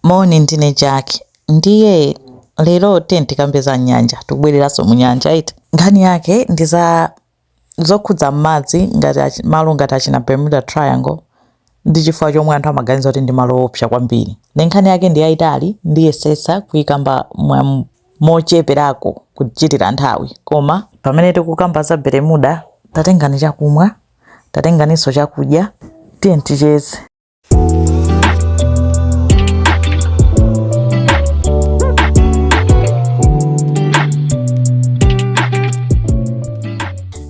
Moni, ndine Jack. Ndiye lero tiyeni tikambe za nyanja, tikubwereranso mu nyanja iti. Nkhani yake ndi za zokhudza m'madzi ngati achi- malo ngati achina Bermuda Triangle ndi chifukwa chomwe anthu amaganiza kuti ndi malo oopsa kwambiri. Nde nkhani yake ndi yayitali, ndiyesetsa kuyikamba mocheperako kuchitira nthawi. Koma pamene tikukamba za Bermuda, tatengani chakumwa, tatenganinso chakudya, tiyeni ticheze.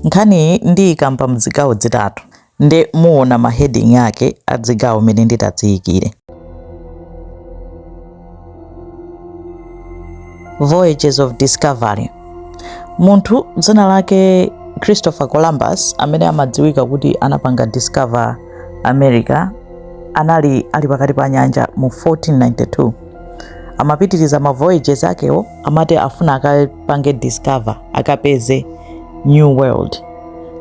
nkhaniyi ndiyikamba mzigawo zitatu nde muona maheding ake a dzigawo mene nditadziyikire Voyages of Discovery. Munthu dzina lake Christopher Columbus amene amadziwika kuti anapanga discover America anali ali pakati pa nyanja mu 1492. Amapitiriza ma voyages akewo amati afuna akapange discover akapeze New World.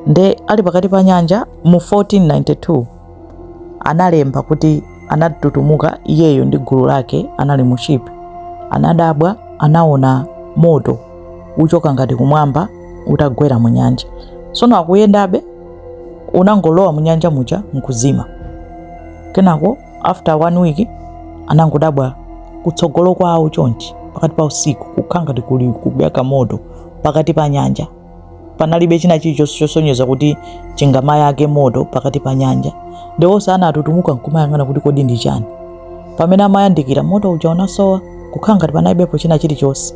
Nde ali pakati pa nyanja mu 1492 analemba kuti anatutumuka iyeyo ndi gulu lake anali mu ship anadabwa anaona moto uchoka ngati kumwamba utagwera mu nyanja tsono akuyendabe unangolowa mu nyanja muja nkuzima kenako after one week anangodabwa kutsogolo kwawo chonchi pakati pa usiku kukhala ngati kuli kuyaka moto pakati pa nyanja panalibe china chilichonse chosonyeza kuti chingamayake moto pakati pa nyanja nde onse anatutumuka nkumayang'ana kuti kodi ndi chani pamene amayandikira moto uja unasowa kukhala ngati panalibepo china chilichonse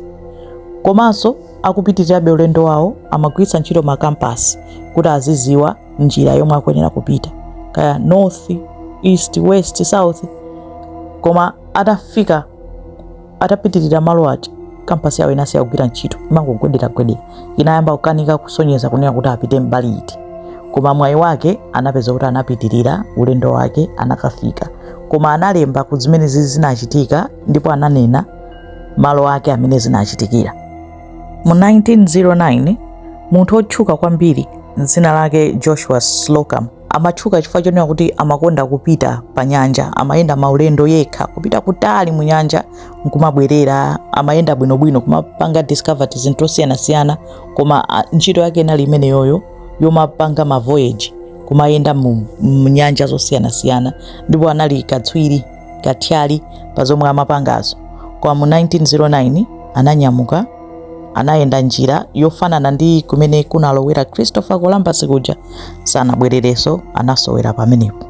komanso akupitirirabe ulendo wawo amagwiritsa ntchito makampasi kuti aziziwa njira yomwe akuyenera kupita kaya north east west south koma atafika atapitirira malo aja kampasi yawo inasiya kugwira ntchito imangogwederagwedera inayamba kukanika kusonyeza kunena kuti apite mbali iti koma mwayi wake anapeza kuti anapitirira ulendo wake anakafika koma analemba kuti zimenezizi zinachitika ndipo ananena malo ake amene zinachitikira mu 1909 munthu wotchuka kwambiri dzina lake joshua slocum amatchuka chifukwa chonena kuti amakonda kupita pa nyanja amayenda maulendo yekha kupita kutali mu nyanja nkumabwerera amayenda bwinobwino kumapanga discover zinthu zosiyanasiyana koma a, ntchito yake inali imeneyoyo yomapanga ma voyage kumayenda mu, mu nyanja zosiyanasiyana ndipo anali katswiri katswiri pa zomwe amapangazo koma mu 1909 ananyamuka anayenda njira yofanana ndi kumene kunalowera christopher columbus kuja sanabwerereso anasowera pamenepo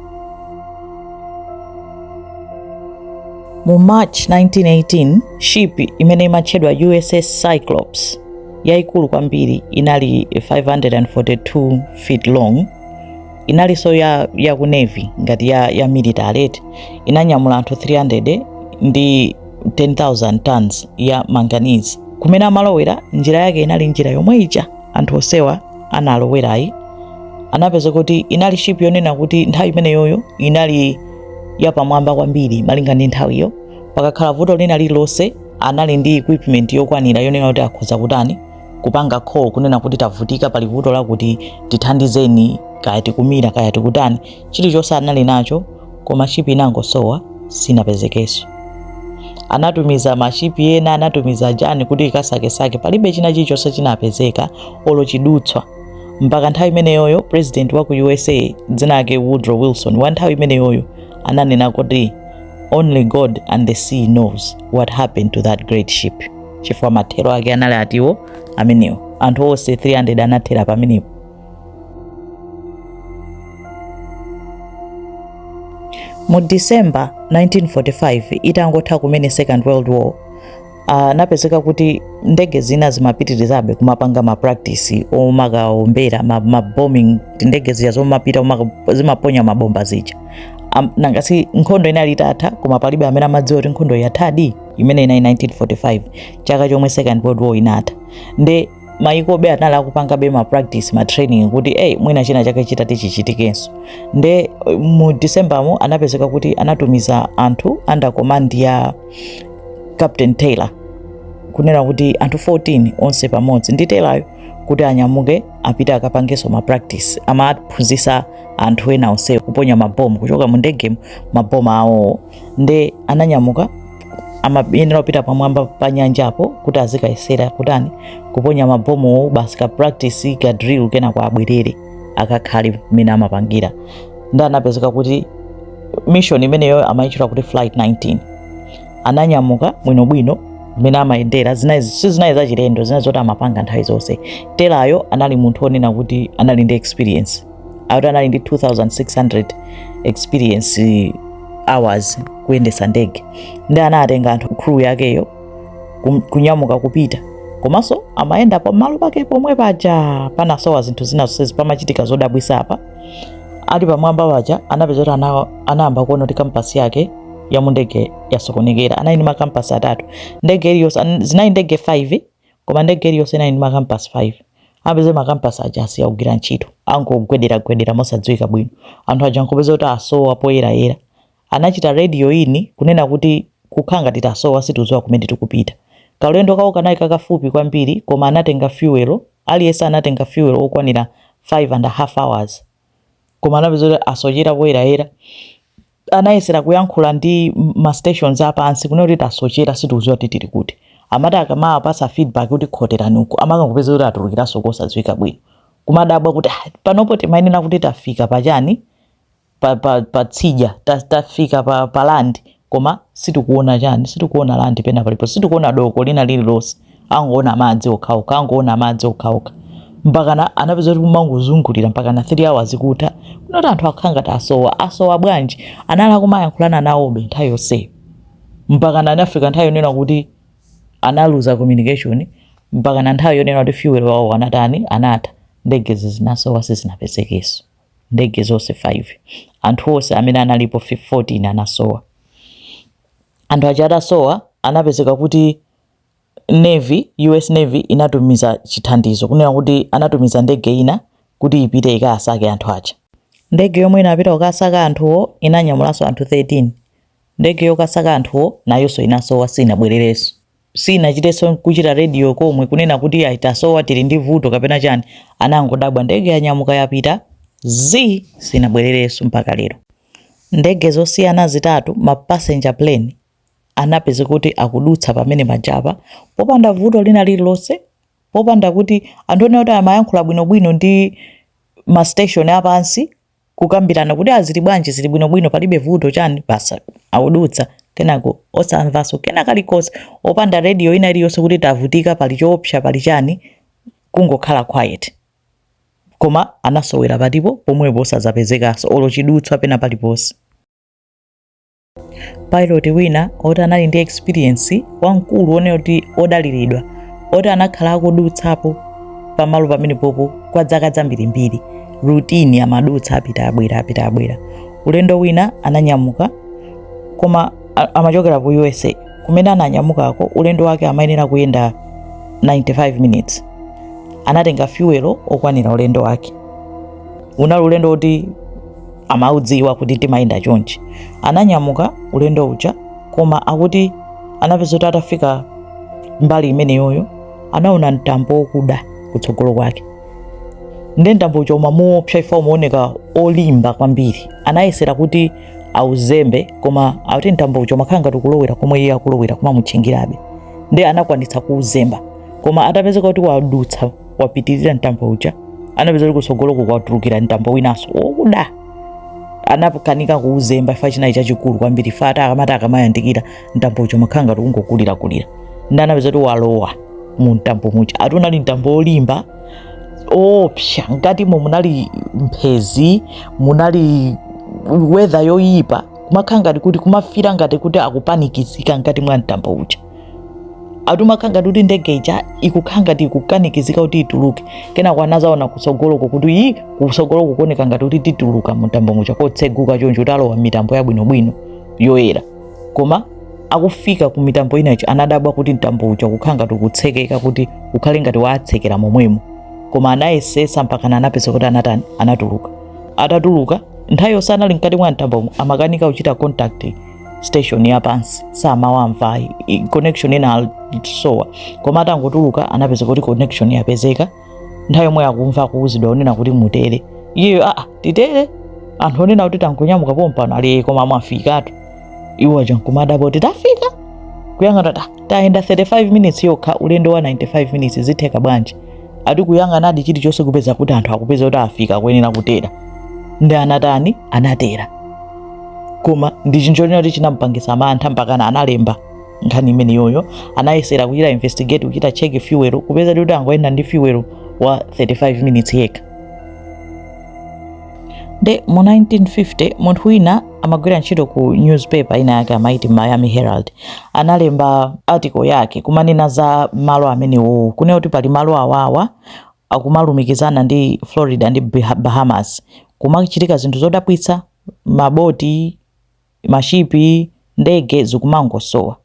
mu march 1918 ship imene imatchedwa uss cyclops yaikulu kwambiri inali 542 feet long inalinso ya, ya ku navy ngati ya, ya military eti inanyamula anthu 300 ndi 10000 tons ya manganese kumene amalowera njira yake inali njira yomwe ija anthu onsewa analowerayi anapezeka kuti inali ship yonena kuti nthawi imeneyoyo inali yapamwamba kwambiri malinga ndi nthawiyo pakakhala vuto lina lililonse anali ndi equipment yokwanira yonena kuti akhoza kutani kupanga call kunena kuti tavutika pali vuto lakuti tithandizeni kaya tikumira kaya tikutani chilichonse anali nacho koma ship inangosowa sinapezekenso anatumiza mashipi ena anatumiza chani kuti ikasakesake palibe china chilichonse chinapezeka olo chidutswa mpaka nthawi imeneyoyo president wa ku usa dzina lake woodrow wilson wa nthawi imeneyoyo ananena kuti only god and the sea knows what happened to that great ship chifukwa mathero ake anali ati awo amenewo anthu onse 300 anathera pamenepo mu december 1945 itangotha kumene second world war anapezeka ah, kuti ndege zina zimapitirizabe kumapanga mapractice omakaombera mabombing ndege zija zomapita zimaponya mabomba zija nanga si nkhondo inali itatha koma palibe amene amadziwa kuti nkhondo yathadi imeneyo inali 1945 chaka chomwe second world war inatha nde mayikobe anali akupangabe ma practice ma training kuti eyi mwina china chake chitati chichitikenso nde eh, mu december mo anapezeka kuti anatumiza anthu under command ya captain taylor kunena kuti anthu 14 onse pamodzi ndi taylor yo kuti anyamuke apite akapangenso ma practice amaphunzitsa anthu ena onse kuponya mabomu kuchoka mu ndegemu mabomu awowo nde ananyamuka amayenera kupita pamwamba pa nyanjapo kuti azikayesera kutani kuponya mabomuwo basi ka practice ka drill kenako abwerere akakhale mmene amapangira nde anapezeka kuti mission imeneyo amayitchula kuti flight 19 ananyamuka bwinobwino mmene amayendera zinali sizinali zachilendo zinali zoti amapanga nthawi zonse taylor yo anali munthu onena kuti anali ndi experience akuti anali ndi 2600 experience hours kuyendesa ndege nde anatenga anthu crew yakeyo kum- kunyamuka kupita komanso amayenda pamalo pake pomwe paja panasowa zinthu zina zonsezi pamachitika zodabwisa apa ali pamwamba paja anapeza kuti ana- anayamba kuona kuti kampasi yake ya mundege yasokonekera anali ndi makampasi atatu ndege iliyonse an- zinali ndege 5 koma ndege iliyonse inali ndi makampasi 5 anapeza kuti makampasi aja asiya kugwira ntchito akungogwederagwedera mosadziwika bwino anthu aja nkupeza kuti asowa poyerayera anachita radio in kunena kuti kukhala ngati tasowa sitiuziwa kumene tikupita kaulendo kawoko kanali kakafupi kwambiri koma anatenga fuel aliyense anatenga fuel okwanira 5 and a half hours koma anapeza kuti asochera poyerayera anayesera kuyankhula ndi ma stations apansi kunena kuti tasochera sitikuziwa kuti tili kuti amati akamawapasa feedback kuti khoterani uku amakangopeza kuti atulukiranso kosadziwika bwino kumadabwa kuti ah, panopo timanena kuti tafika pachani pa, pa, pa tsidya ta, tafika pa, pa land koma sitikuona chani sitikuona land pena palipo sitikuona doko lina lililonse akungoona madzi okhaokha akungoona madzi okhaokha mpakana anapeza kuti kumangozungulira mpakana 3 hours kutha kuno kuti anthu akhala ngati asowa asowa bwanji anali kumayankhulana nawobe nthawi yonseyo mpakana anafika nthawi yonena kuti analuza communication mpakana nthawi yonena kuti fuel wawo anatani anatha ndegezi zinasowa sizinapezekeso ndege zonse 5 anthu onse amene analipo 14 anasowa anthu aja atasowa anapezeka kuti Navy, U.S. Navy, inatumiza chithandizo, kunena kuti anatumiza ndege ina kuti ipite ikasake anthu aja. Ndege yomwe inapita kukasaka anthuwo inanyamulanso anthu 13. Ndege yokasaka anthuwo nayonso inasowa sinabwererenso. Sinachitenso n'kuchita radio komwe kunena kuti iyayi tasowa, tili ndi vuto kapena chani. Anangodabwa ndege yanyamuka yapita zii sinabwererenso mpaka lero. Ndege zosiyana zitatu, ma passenger plane, anapezeka kuti akudutsa pamene pajapa popanda vuto lina lililonse popanda kuti anthu onena kuti amayankhula bwinobwino ndi ma station apansi kukambirana kuti azili bwanji zili bwinobwino palibe vuto chani basi akudutsa kenako osamvanso kena kalikonse opanda radio ina iliyonse kuti tavutika pali choopsa pali chani kungokhala quiet koma anasowera palipo pomwepo osazapezekanso olo chidutswa pena paliponse Pilot wina oti anali ndi experience wamkulu onena kuti odaliridwa oti anakhala akudutsapo pamalo pamenepopo kwa dzaka dzambirimbiri routine amadutsa apita abwera apita abwera ulendo wina ananyamuka koma a- amachokera ku usa kumene ananyamukako ulendo wake amayenera kuyenda 95 minutes anatenga fuel okwanira ulendo wake unali ulendo woti amaudziwa kuti timayenda chonchi ananyamuka ulendo uja koma akuti anapeza kuti atafika mbali imeneyoyo anaona mtambo wokuda kutsogolo kwake nde mtambo uja umamuopsa chifukwa umaoneka olimba kwambiri anayesera kuti auzembe koma akuti mtambo uja umakhala ngati ukulowera komwe iye akulowera kumamutchingirabe nde anakwanitsa kuuzemba koma atapezeka kuti wadutsa wapitirira mtambo uja anapeza kuti kutsogoloko kwatulukira mtambo winanso wokuda anakanika kuuzemba chifukwa chinali chachikulu kwambiri chifukwa ati akamati akamayandikira mtambo uja umakhala ngati ungokulirakulira ndi anapeza kuti walowa mu mtambo muja ati unali mtambo wolimba oopsa mkatimo munali mphezi munali weather yoyipa kumakhala ngati kuti kumafira ngati kuti akupanikizika mkati mwa mtambo uja ati umakhala ngati kuti ndege ija ikukhala ngati ikukanikizika kuti ituluke kenako anazaona kutsogoloko kuti ii kutsogoloko kuoneka ngati kuti tituluka mu mtambo muja kotseguka choncho kuti alowa mmitambo yabwinobwino yoyera koma akufika ku mitambo inayo anadabwa kuti mtambo uja kukhala ngati ukutsekeka kuti ukhale ngati watsekera momwemo koma anayesesa mpakana anapeza kuti anatani anatuluka atatuluka nthawi yonse anali mkati mwa mtambomo amakanika kuchita contact station ya pansi samawamva connection inasowa koma atangotuluka anapeza kuti connection yapezeka nthawi yomweyo akumva kuuzidwa onena kuti mutere iyeyo aa titere anthu onena kuti tangonyamuka pompano ati koma mwafikatu iwo aja nkumadabwa kuti tafika kuyang'ana ta tayenda 35 minutes yokha ulendo wa 95 minutes zitheka bwanji ati kuyang'anadi chilichonse kupeza kuti anthu akupeza kuti afika akuyenera kutera ndi anatani anatera koma ndi chinthu choti chinamupangisa mantha mpakana analemba nkhani imeneyoyo anayesera kuchita investigate kuchita check fuel kupeza kuti angoyenda ndi fuel wa 35 minutes yekha nde mu 1950 munthu wina amagwira ntchito ku newspaper ina yake amaiti miami herald analemba article yake kumanena za malo amenewowo kunena kuti pali malo awawa akumalumikizana ndi florida ndi Bah- bahamas kumachitika zinthu zodabwitsa maboti, mashipi, ndege zikumangosowa.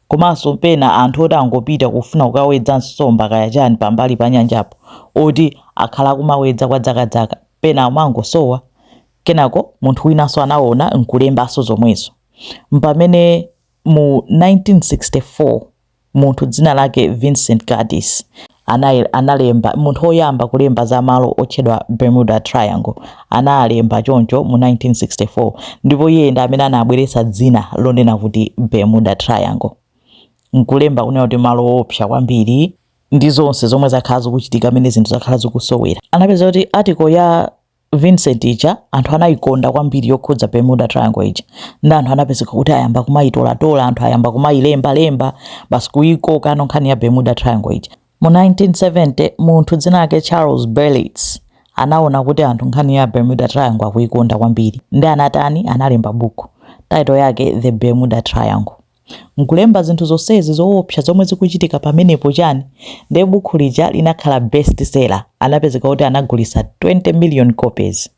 Komanso pena anthu oti angopita kufuna kukawedza nsomba kaya chani pambali pa nyanjapo oti akhala kumawedza kwa dzakadzaka pena amangosowa. Kenako munthu winanso anaona n'kulembanso zomwezo. Mpamene mu 1964. munthu dzina lake Vincent Gaddis ana- analemba munthu woyamba kulemba za malo otchedwa Bermuda Triangle analemba choncho mu 1964 ndipo iye ndi amene anabweretsa dzina lonena kuti Bermuda Triangle nkulemba kunena kuti malo oopsa kwambiri ndi zonse zomwe zakhala zikuchitika amene zinthu zakhala zikusowera anapeza kuti article ya Vincent ija anthu anayikonda kwambiri yokhudza Bermuda Triangle ija nde anthu anapezeka kuti ayamba kumayitolatola anthu ayamba kumayilemba lemba basi kuyikokano nkhani ya Bermuda Triangle ija mu 1970 munthu dzina lake Charles Berlitz anaona kuti anthu nkhani ya Bermuda Triangle akuyikonda kwambiri nde anatani analemba buku title yake The Bermuda Triangle Nkulemba zinthu zonsezi zoopsa zomwe zikuchitika pamenepo chani? Nde bukhu lija linakhala best seller, anapezeka kuti anagulisa 20 million copies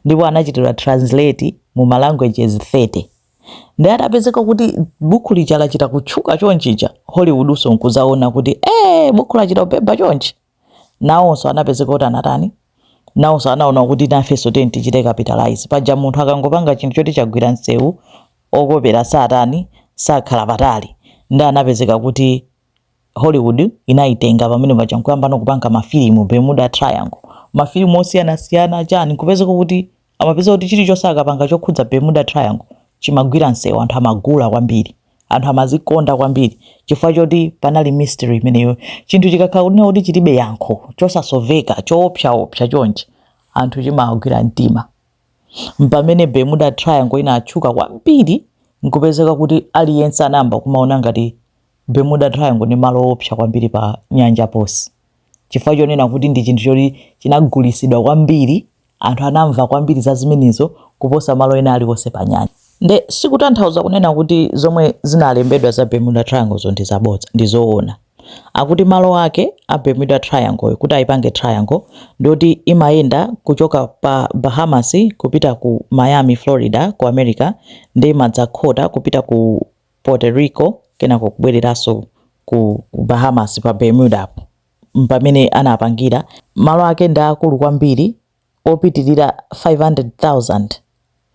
ndipo anachitidwa translate mu ma languages 30. Nde atapezeka kuti bukhu lija lachita kutchuka chonchija, Hollywoodnso nkuzaona kuti eeh bukhu lachita kubhebha chonchi? nawonso anapezeka kuti anatani nawonso anaona kuti nafenso tiyeni tichite capitalize paja munthu akangopanga chinthu choti chagwira msewu okopera satani sakhala patali nde anapezeka kuti hollywood inayitenga pamene paja nkuyambano kupanga mafilimu bermuda triangle mafilimu osiyanasiyana chani nkupezeka kuti amapeza kuti chilichonse akapanga chokhudza Bermuda Triangle chimagwira msewu, anthu amagula kwambiri, anthu amazikonda kwambiri chifukwa choti panali mystery imeneyo. Chinthu chikakhala kunena kuti chilibe yankho, chosasoveka, choopsaopsa chonchi, anthu chimawagwira mtima. Mpamene Bermuda Triangle inatchuka kwambiri nkupezeka kuti aliyense anayamba kumaona ngati Bermuda Triangle ni malo oopsa kwambiri pa nyanja pose chifukwa chonena kuti ndi chinthu choti chinagulisidwa kwambiri Anthu anamva kwambiri za zimenezo kuposa malo ena aliwonse panyanja. Ndiye sikutanthauza kunena kuti zomwe zinalembedwa za Bermuda Trianglezo ndi zabodza, ndi zoona. Akuti malo ake a Bermuda Triangleyo, kuti aipange triangle, ndi oti imayenda kuchoka pa Bahamas kupita ku Miami, Florida, ku America, ndiye imadzakhota kupita ku Puerto Rico kenako kubwereranso ku Bahamas pa Bermudapo. m'pamene anapangira. Malo ake ndi aakulu kwambiri, opitirira 500,000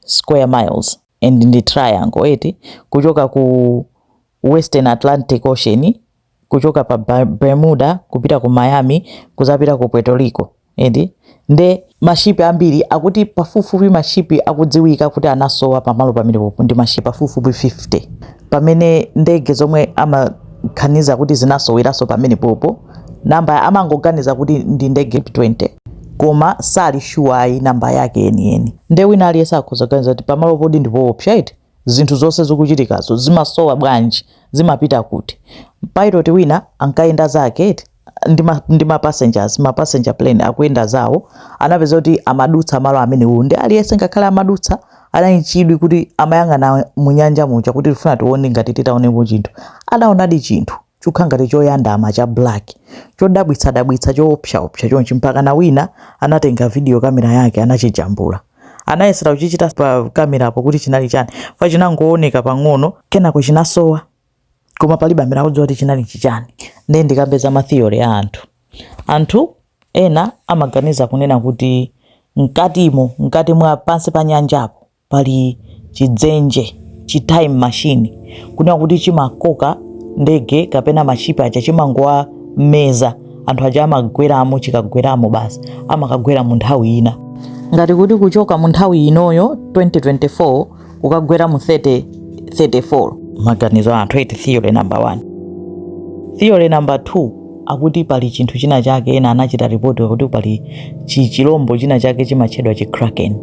square miles, and ndi triangle, eti, kuchoka ku Western Atlantic Ocean, kuchoka pa Bermuda kupita ku Miami, kudzapita ku Puerto Rico. eti nde ma ship ambiri akuti pafupifupi ma ship akudziwika kuti anasowa pamalo pamenepopo ndi ma ship pafupifupi 50 pamene ndege zomwe amaganiza kuti zinasoweranso pamenepopo namba amangoganiza kuti ndi ndege 20 koma sali sure ayi namba yake yeniyeni nde wina aliyense akhoza kuganiza kuti pamalopodi ndipoopsa eti zinthu zonse zikuchitikazo zimasowa bwanji zimapita kuti pilot wina ankayenda zake eti ndi ma passengers ma passenger plane akuyenda zawo anapeza kuti amadutsa malo amenewo ndi aliyense ngakhale amadutsa anali ndi chidwi kuti amayang'ana mu nyanja muja kuti tifuna tione ngati titaonepo chinthu anaonadi chinthu chokha ngati choyandama, cha black, chodabwitsadabwitsa, choopsaopsa chonchi, mpakana wina anatenga video camera yake anachijambula. Anayesera kuchichita pa camerapo kuti chinali chani, chifukwa chinangooneka pang'ono, kenako chinasowa, koma palibe amene akudziwa kuti chinali chichani. Ndiye ndikambe za ma theory a anthu. Anthu ena amaganiza kunena kuti mkatimo, mkati mwa pansi pa nyanjapo, pali chidzenje chi time machine kunena kuti chimakoka ndege kapena mashipi aja chimangowameza anthu aja amagweramo chikagweramo basi amakagwera mu nthawi ina ngati kuti kuchoka mu nthawi inoyo 2024 kukagwera mu 3034 maganizo a anthu eti theory number 1 theory number 2 akuti pali chinthu china chake ena anachita ripoti kuti pali chi- chilombo china chake chimatchedwa chikraken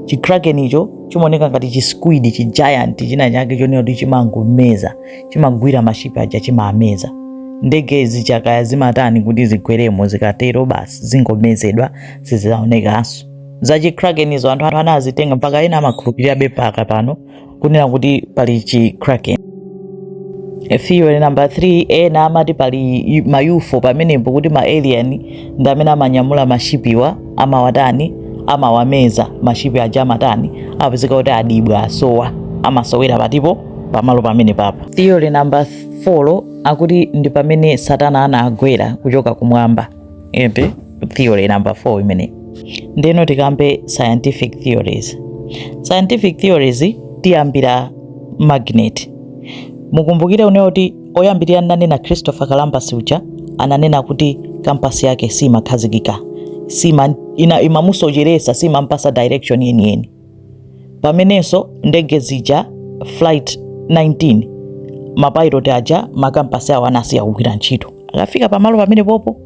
chikraken icho chimaoneka ngati chisquid chi giant china chake chonena kuti chimangomeza chimagwira mashipi aja chimaameza ndege zichakaya zimatani kuti zigweremo zikatero basi zingomezedwa sizizaonekanso za chikraken izo anthu anazitenga mpaka ena amakhulupirirabe mpaka pano kunena kuti pali chi kraken theory number 3 ena amati pali ma UFO pamenepo kuti ma alien ndi amene amanyamula mashipiwa amawatani amawameza mashipi aja amatani apezeka kuti adibwa asowa amasowera pakatipo pamalo pamenepapa theory number 4 akuti ndi pamene satana anagwera kuchoka kumwamba iyo ndi theory number 4 imeneyi ndeno tikambe scientific theories scientific theories tiyambira magnet mukumbukire munaona kuti oyambirira nanena christopher columbus uja ananena kuti kampasi yake simakhazikika imamusocheresa simampasa direction yeniyeni pamenenso ndege zija flight 19 mapilot aja makampasi awo anasiya kugwira ntchito akafika pamalo pamenepopo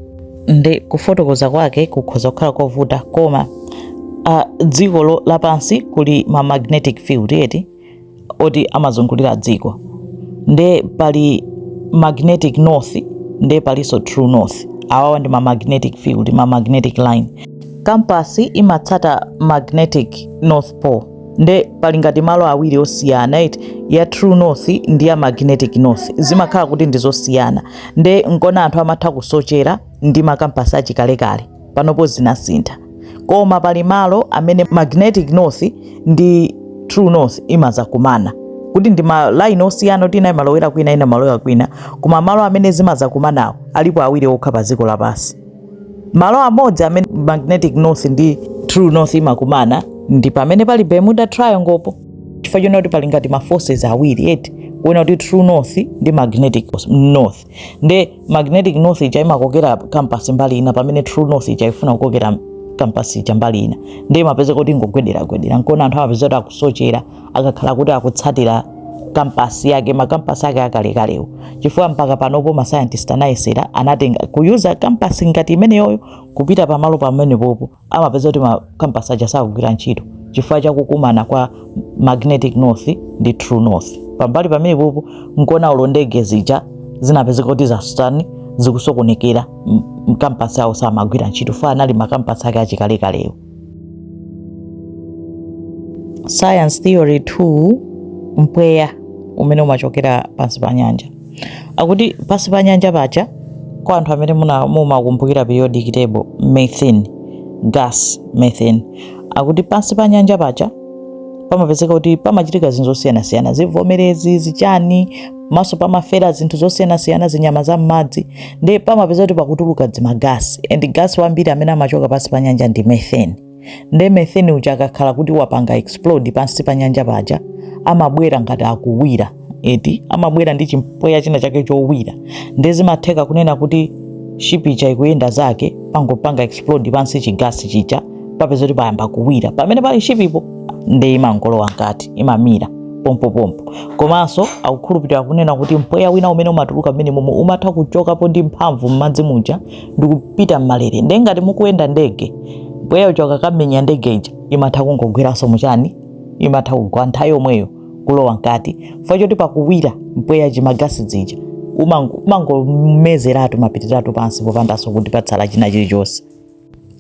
ndi kufotokoza kwake kukhoza kukhala kovuta koma uh, dziko lapansi kuli ma magnetic field eti oti amazungulira dziko nde pali magnetic north nde palinso true north awawa ndi ma magnetic field ma magnetic line kampasi imatsata magnetic north pole nde pali ngati malo awiri osiyana eti ya true north ndi ya magnetic north zimakhala kuti ndizosiyana nde nkona anthu amatha kusochera ndi makampasi achikalekale panopo zinasintha koma pali malo amene magnetic north ndi true north imazakumana kuti ndi ma line osiyana kuti ina imalowera kwina ina malowera kwina koma malo amene zimazakumanawo alipo awiri okha pa dziko lapansi malo amodzi amene magnetic north ndi true north imakumana ndi pamene pali bermuda triangle po chifukwa chonena kuti pali ngati ma forces awiri eti kuona kuti true north ndi magnetic north nde magnetic north ija imakokera kampasi mbali ina pamene true north ija ifuna kukokera kampasi ija mbali ina nde imapezeka kuti ingogwedera gwedera nkona anthu amapezeka kuti akusochera akakhala kuti akutsatira kampasi yake makampasi ake akalekalewo chifukwa mpaka panopo ma scientist anayesera anatenga kuyuza kampasi ngati imeneyoyo kupita pamalo pamenepopo amapezeka kuti makampasi aja sakugwira ntchito chifukwa cha kukumana kwa magnetic north ndi true north pambali pamenepopo nkona ulo ndege zija zinapezeka kuti zatani zikusokonekera m- makampasi awo samagwira ntchito fa anali makampasi ake achikalekalewo science theory 2 mpweya umene umachokera pansi pa nyanja Akuti pansi pa nyanja paja kwa anthu amene mumakumbukira periodic table methane gas methane akuti pansi pa nyanja paja pamapezeka kuti pamachitika zinthu zosiyanasiyana zivomerezi zichani komanso pamafera zinthu zosiyanasiyana zinyama za m'madzi nde pamapezeka kuti pakutuluka dzimagasi and gasi wambiri amene amachoka pansi pa nyanja ndi methane Nde methane uja akakhala kuti wapanga explode pansi pa nyanja paja amabwera ngati akuwira eti amabwera ndi chimpweya china chake chowira nde zimatheka kunena kuti ship ija ikuyenda zake pangopanga explode pansi chigasi chija papezeka kuti payamba kuwira pamene pali shipipo nde imangolowa mkati imamira pompopompo komanso akukhulupirira kunena kuti mpweya wina umene umatuluka mmenemomo umatha kuchokapo ndi mphamvu m'madzi muja ndikupita m'malere nde ngati mukuyenda ndege mpweya uja ukakamenya ndege ija imatha kungogweranso muchani imatha kugwa nthawi yomweyo kulowa mkati fo choti pakuwira mpweya chimagasi dzija umango- umangomezeratu mapitiratu pansi popandanso kuti patsala china chilichonse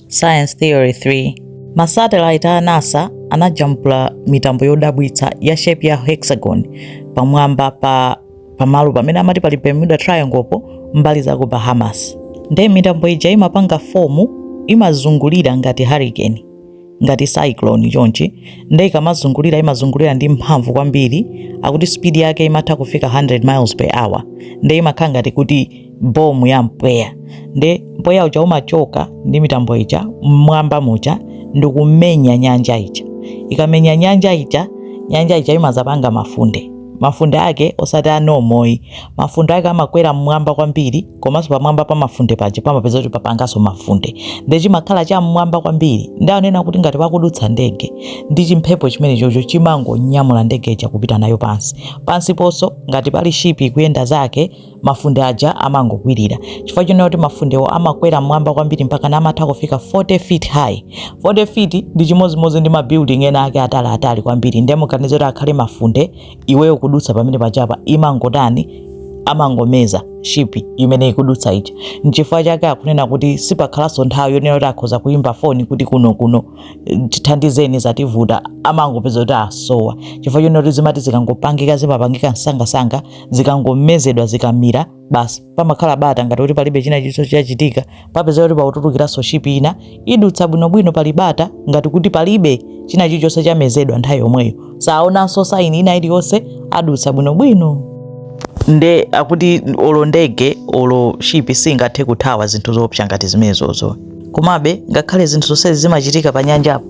Science Theory 3 Masatelite a NASA anajambula mitambo yodabwitsa ya shape ya hexagon pamwamba pa pamalo pamene amati pali Bermuda Triangle po mbali za ku Bahamas. Ndiye mitambo ija imapanga fomu imazungulira ngati hurricane ngati cyclone chonchi nde ikamazungulira imazungulira ndi mphamvu kwambiri akuti speed yake imatha kufika 100 miles per hour nde imakhala ngati kuti bomu ya mpweya nde mpweya uja umachoka ndi mitambo ija mmwamba muja ndikumenya nyanja ija ikamenya nyanja ija nyanja ija imazapanga mafunde mafunde ake osati anomoyi mafunde ake amakwera mmwamba kwambiri komanso pamwamba pa mafunde paja pamapeza kuti papanganso mafunde nde chimakhala cha mmwamba kwambiri nde anena kuti ngati pakudutsa ndege ndi chimphepo chimene chocho chimangonyamula ndege ija kupita nayo pansi pansi ponso ngati pali shipi ikuyenda zake mafunde aja amangokwirira chifukwa chonena kuti mafundewo amakwera mmwamba kwambiri mpaka na amatha kufika 40 feet high 40 feet ndi chimodzimodzi ndi mabuilding ena ake atali atali kwambiri ndiye muganize kuti akhale mafunde iweyo ukudutsa pamenepaja apa imangotani amangomeza shipi imene ikudutsa ija nchifukwa chake akunena kuti sipakhalanso nthawi yonena kuti akhoza kuyimba foni kuti kuno kuno eh, tithandizeni zativuta amangopeza kuti asowa chifukwa chonena kuti zimati zikangopangika zimapangika msangasanga zikangomezedwa zikamira basi pamakhala bata ngati kuti palibe china chilichonse chachitika papeza kuti pautulukiranso shipi ina idutsa bwinobwino pali bata ngati kuti palibe china chilichonse chamezedwa nthawi yomweyo saonanso saini ina iliyonse adutsa bwinobwino nde akuti olo ndege olo shipi singathe kuthawa zinthu zoopsa ngati zimenezozo komabe ngakhale zinthu zonsezi zimachitika pa nyanjapo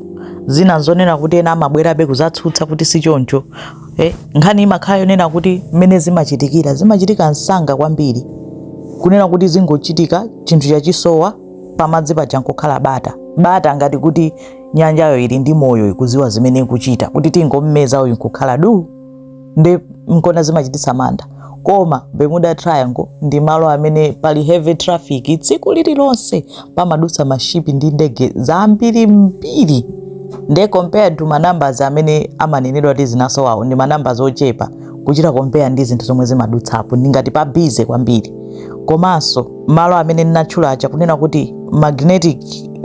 zina zonena kuti ena amabwerabe kuzatsutsa kuti si choncho Eh, nkhani imakhala yonena kuti mmene zimachitikira zimachitika msanga kwambiri kunena kuti zingochitika chinthu chija chisowa pamadzi paja nkukhala bata bata ngati kuti nyanjayo ili ndi moyo ikuziwa zimene ikuchita kuti tingommeza uyu nkukhala du nde nkona zimachititsa mantha koma Bermuda Triangle ndi malo amene pali heavy traffic tsiku lililonse pamadutsa mashipi ndi ndege zambirimbiri nde compared to manambers amene amanenedwa kuti zinasowawo ndi manambers ochepa kuchita compare ndi zinthu zomwe zimadutsapo ndi ngati pa busy kwambiri komanso malo amene ndinatchula aja kunena kuti magnetic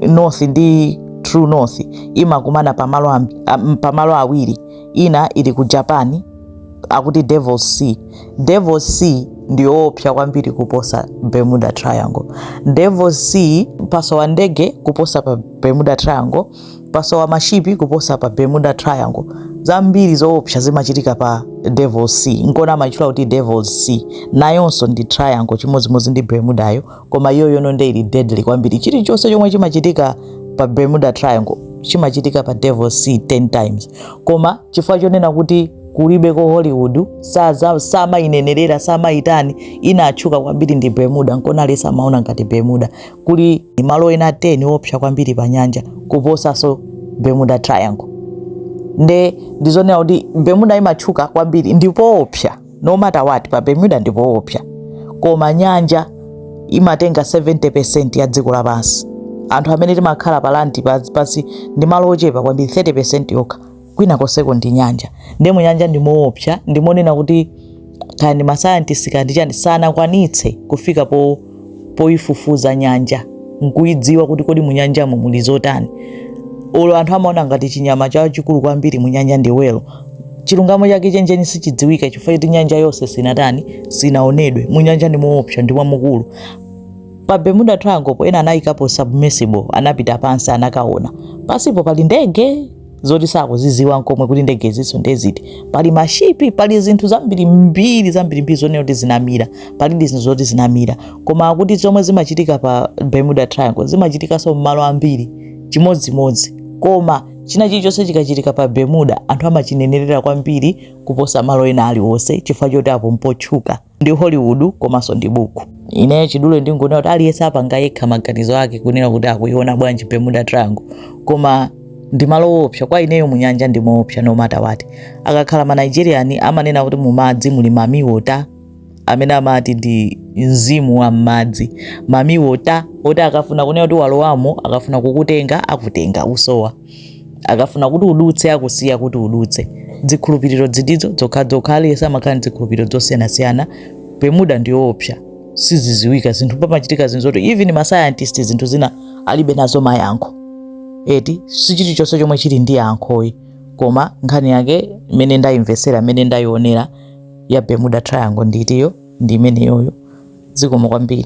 north ndi true north imakumana pamalo am- am- pamalo awiri ina ili ku Japan akuti Devil's Sea Devil's Sea ndiyoopsa kwambiri kuposa Bermuda Triangle Devil's Sea pasowa ndege kuposa pa Bermuda Triangle pasowa mashipi kuposa pa Bermuda Triangle zambiri zoopsa zimachitika pa Devil's Sea nkona amatchula kuti Devil's Sea nayonso ndi triangle chimodzimodzi ndi Bermudayo koma iyo yono nde ili deadly kwambiri chilichonse chomwe chimachitika pa bermuda triangle chimachitika pa devil's sea 10 times koma chifukwa chonena kuti kulibe ko hollywood saza- samainenerera samaitani inatchuka kwambiri ndi bermuda nkonali samaona ngati bermuda kuli malo ena 10 opsa kwambiri pa nyanja kuposanso bermuda triangle nde ndizonena kuti bermuda imatchuka kwambiri ndi poopsa no matter what pa Bermuda ndi poopsa koma nyanja imatenga 70% ya dziko lapansi anthu amene timakhala pa landi pansi ndi malo ochepa kwambiri 30% yokha kwina konseko ndi nyanja nde munyanja ndi moopsa ndimonena kuti kaya ndi masayantisti kaya ndi chani sanakwanitse kufika po poyifufuza nyanja nkuyidziwa kuti kodi munyanjamo muli zotani olo anthu amaona ngati chinyama chachikulu kwambiri munyanja ndi whale chilungamo chake chenicheni sichidziwika chifukwa choti nyanja yonse sinatani sinaonedwe munyanja ndi moopsa ndi mwamukulu pa bermuda trianglepo ena anayikapo submersible anapita pansi anakaona pansipo pali ndege zoti sakuziziwa nkomwe kuti ndegezo ndi ziti pali mashipi pali zinthu zambirimbiri zambirimbiri zonena kuti zinamira pali ndi zinthu zoti zinamira koma akuti zomwe zimachitika pa bermuda triangle zimachitikanso mmalo ambiri chimodzimodzi koma china chilichonse chikachitika pa bermuda anthu amachinenerera kwambiri kuposa malo ena aliwonse chifukwa choti apo mpotchuka ndi Hollywood komanso ndi buku. Ineyo chidule ndingonena kuti aliyense apanga yekha maganizo ake kunena kuti akuiona bwanji Bermuda Triangle, koma ndi malo oopsa kwa ineyo mu nyanja ndi moopsa no matter what. Akakhala ma Nigerian amanena kuti mu madzi muli mami wota amene amati ndi mzimu wa m'madzi mami wota oti akafuna kunena kuti walowamo akafuna kukutenga akutenga usowa. akafuna kuti udutse akusiya kuti udutse zikhulupiriro izizo zokhazokha aliyense amakhala ndi zikhulupiriro zosiyanasiyana bermuda ndiyoopsa siziziwika zinthu pamachitika zinthu zoti even masayantisti zinthu zina alibe nazo mayankho eti si chilichonse chomwe chili ndi yankho ayi koma nkhani yake imene ndayimvesera imene ndayionera ya bermuda triangle ndi itiyo ndi imeneyoyo zikomo kwambiri